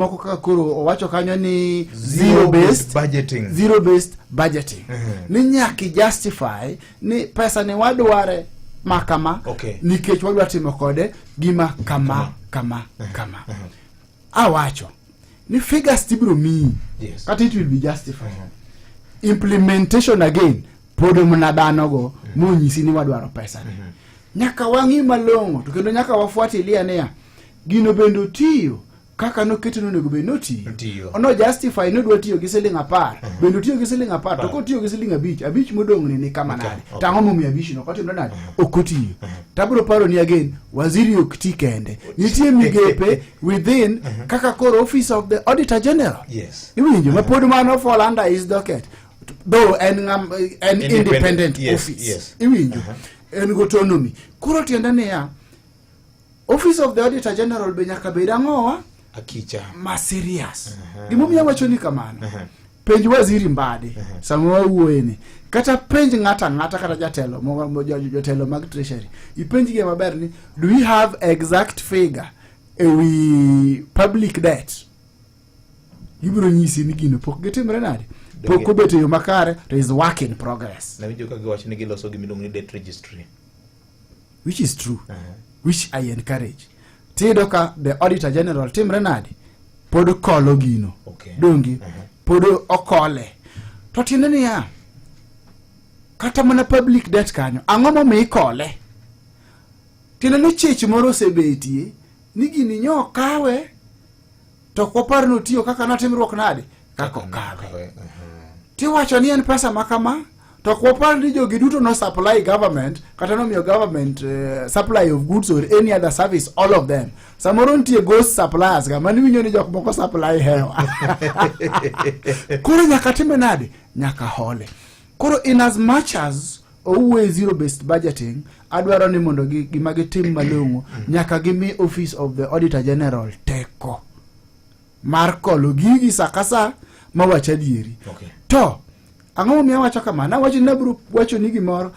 moko kaka koro owacho kanyo ni zero based budgeting zero based budgeting mm -hmm. ni nyaki justify ni pesa ni wadware ma kama okay. nikech wadwa timo kode gima kama kama kama, mhm. kama. Mm -hmm. awacho ni figures tibiro miyi yes. kata it will be justified mm -hmm. implementation again pod mna dhano go mm -hmm. monyisi ni wadwaro pesa ni mm -hmm. nyaka wang'i malong'o to kendo nyaka wafuatilia niya gino bende otiyo kaka noketo nonego bed notiyo ono justify nodwa tiyo gi siling apar uh mhm. -huh. bende otiyo gi siling apar to kotiyo gi siling abich abich modong'ni ni kama nade okay. okay. tang'o momiyo abich no kotimre nade uh mhm. -huh. ok otiyo uh mhm. -huh. tabro paro ni again waziri ok ti kende nitie migepe within uh -huh. kaka koro office of the auditor general yes. iwinjo uh -huh. mapod mano fall under his docket though en, um, en independent, independent yes, office yes. iwinjo uh -huh. en gotonomi koro tiende niya Office of the Auditor General be nyaka bed ang'owa akicha ma serious uh -huh. gimomiyo awacho ni kamano uh -huh. penj waziri mbadi uh -huh. sama wawuoye ni kata penj ng'ata ng'ata kata jatelo jotelo mag treasury ipenjgi maber ni do we have exact figure ewi public debt gibiro nyisi ni gino pok gitimre nade pok obet e yo makare to is work in progress nawijo ka giwacho ni giloso gimiluongo ni debt registry which is true uh -huh. which i encourage tiyudo ka the auditor general timre nade pod okolo gino okay. dongi uh -huh. pod okole to tiende niya kata mana public debt kanyo ang'o momi ikole tiende ni chich moro osebetie ni gini nyo kawe to ok wapar ni otiyo kaka natimruok nade kaka okawe tiwacho ni en pesa ma kama to ok wapar ni jogi duto no supply government kata nomiyo government uh, supply of goods or any other service all of them samoro nitie ghost suppliers ga mani winjo ni jok moko supply hewa koro nyaka time nade nyaka hole Koro in as much as owuoye zero based budgeting adwaro ni mondo gima gitim malong'o mm. nyaka gimi office of the auditor general teko mar kolo gigi sa ka sa mawach adieri okay. to ang'o momiyo awacho kamano awacho ni nabiro wacho ni gimoro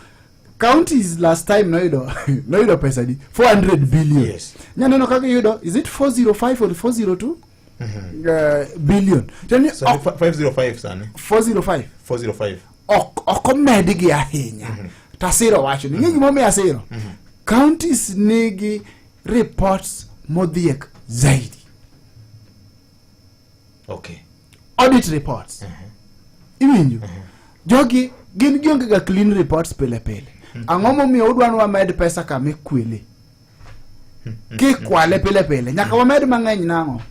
counties last time noyudo noyudo pesa di 400 billion yes. nyaneno kaka iyudo is it 405 or 402 eh, billion tiende ni Sani ok- fa- 505 sani 405 405 ok ok omedgi ahinya tasiro wacho ni ng'e gimomiyo asiro counties nigi reports modhiek zaidi okay audit reports iwinjo jogi gin gionge ga clean reports pile pile ang'o momiyo udwa ni wamed pesa kama ikwele ki kwale pile pile nyaka wamed mang'eny nang'o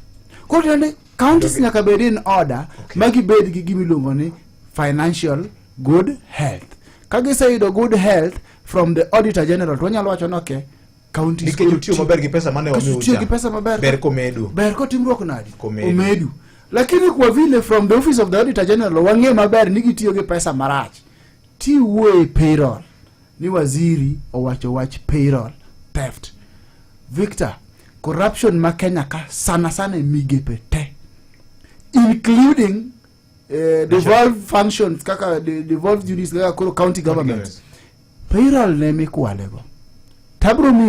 koro tiende counties nyaka bed in order ma gibed gi gima iluongo ni financial good health ka giseyudo good health from the auditor general to wanyalo wacho ni okay counties nikech koro utiyo ti- maber gi pesa mane Kasi utiyo gi pesa maber ber komedu ber kotimruok nadi Komedu. omedu lakini kwa vile from the office of the auditor general wang'e maber ni gitiyo gi pesa marach tiwuoye payroll ni waziri owacho wach payroll theft. Victor, corruption ma Kenya ka sana sana e migepe te including eh, devolved functions kaka de, devolved units kaka koro county government payroll ne mikwalego tabro